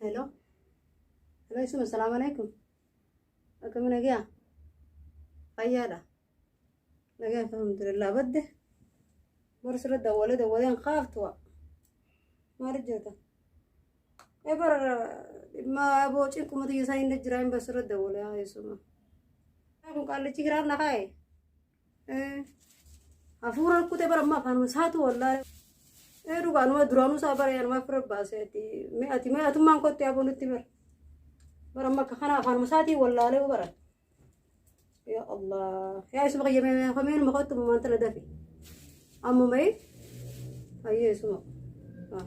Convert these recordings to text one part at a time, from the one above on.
Hello. Hello isin assalamu alaikum. Akkami nagaa? Fayyaadha. Nagaa alhamdulillah badde. Bara sirra dawwale dawwaleen kaaftuwa. Maal jirta? Ee bara dhimma aboo cinqumatu isaa hin jira hin basirra dawwale haa eessuma. Kun qaallichi giraan na kaa'e. Hafuura rukkutee bara ammaa afaan saatu wallaalee. Ee dhugaa anuma duraanuu isaa bara yanumaa fira baasee ati mee ati mee atummaan kotti aboo nutti bara. Bara amma akka kana afaan saatii wallaalee bara. Yaa Allah yaa isuma qayyamee mee kameen ma kottu maan tala dafi. Amma mee hayyee isuma. Ah.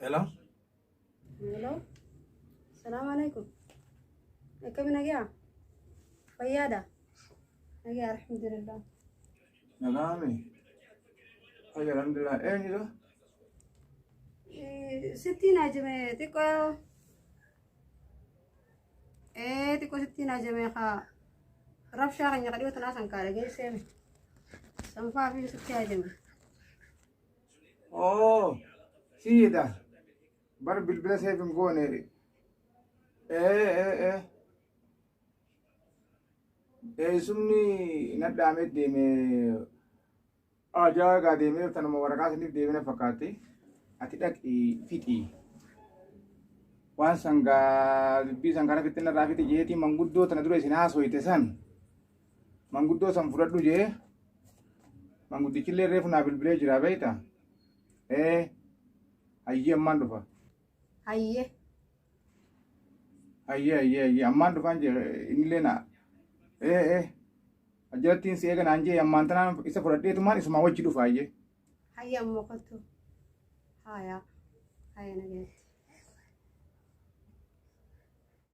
Hello? Hello. Salaam alaikum. Akkami nagaa? Fayyaadha? Nagaa alhamdulillah. Nagaami. Hayya alhamdulillah. Eenyudha? Eh, Sittiin ajame xiqqoo. Eh, xiqqoo sittiin ajame haa. Rabshaa keenya kadhiyoo tanaa san kaadha geessee. Sanfaa fi sitti ajame. Oh, siidha. Bar bilbila seef hin goone. Ee, ee, ee. Eessumni nadhaamee deeme ajaa gaa deemee tanuma waraqaa saniif deemina fakkaatti. Ati dhaqi fixi. Waan sangaa dubbii san kana fixinna irraa fixi jeetii manguddoo tana dura isin haasoyte san. manguddoo san fudhadhu jee manguddichillee reefu naa bilbilee jira beekta ee hayyee ammaan dhufa Hayyee. hayyee hayyee hayyee ammaan dhufaan jee innillee naa ee ee ajjalattiin si eega naan jee ammaan tanaan isa fudhadheetumaan isumaa wajji dhufa hayyee Hayyee ammoo kottu. Haayaa. Haaya nagaatti.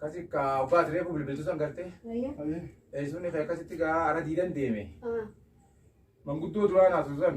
Kasi ka ogaa tiree kun bilbiltuu san gartee eessuun kee akkasitti gaa ara diidan deeme manguddoo duraa naatu san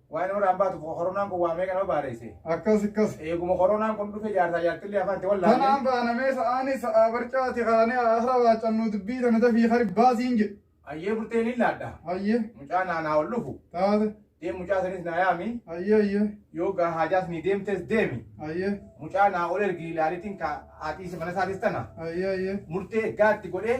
Waa'ee nama irraa hin baatu koronaan kun waa meeqa nama baareesse. Akkas akkas. Eeguma koronaan kun dhufe jaarsaa jaartillee afaan itti wallaalle. Tanaan baanamee sa'aanii sa'aa barcaati kaanee haasra waacannuu dubbii tana dafii kari baasiin jedhe. Ayyee burteen hin laadha. Hayyee Mucaa naanaa ol dhufu. taate. Deem mucaa sanis naa yaami. Hayyee hayyee Yoo gaa haajaas ni deemtes deemi. hayyee Mucaa naa ol ergi ilaalitiin ka haatiisi mana isaatis tana. hayyee hayyee. Murtee gaatti godhee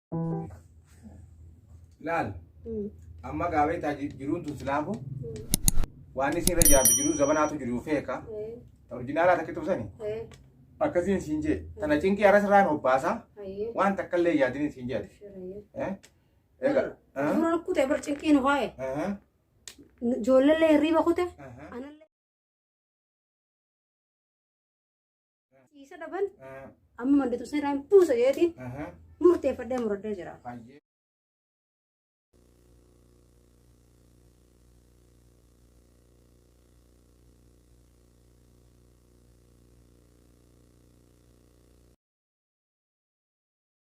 Laal amma gaabeetaa jiruun tun silaafu waan isin irra jiraatu jiruu zabanaatu jiru feeka orjinaalaa takka tubsani akkasiin siin jee tana cinqii aras irraan hobbaasaa waan takka illee yaadin siin jee egaa Dura kutee bar cinqiin ho'e. Ijoollee hirriiba kute. Anallee. Ciisa dhaban amma manditu seeraan buusa jeetiin murteeffadhee muradhee jira.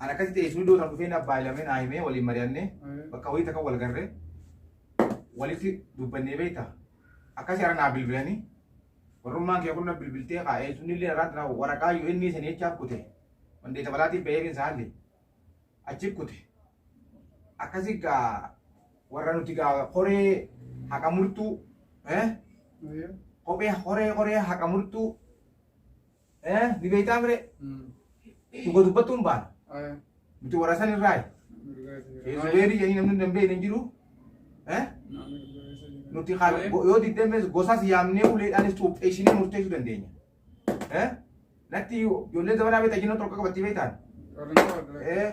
An akkasitti eessuun dootan dhufee na abbaa ilamee naa himee waliin mari'annee bakka wayii takka wal garree walitti dubbannee beekta. Akkasi hara naa bilbilanii warrummaan kee kun na bilbiltee kaa eessuun illee irraatti naa waraqaa yoo inni sanii jechaa kute wandeeta balaatiif bahee bin saalli achi kute. Akkasi gaa warra nuti gaa horee haqa murtuu eh? kophee horee horee haqa murtuu Eh, ni beektaa mire dhuga dubbattuun baana. Nuti warra san irraa Zubeerii jedhanii namni hin beekne hin jiru. Eh, nuti kan go- yoo diddamees gosas yaamnee uleedhaanis cuupheessinee murteessuu dandeenya. Eh, natti ijoolleen zabanaa beektaa jinnoo tokko qabatti beektaan. Eh,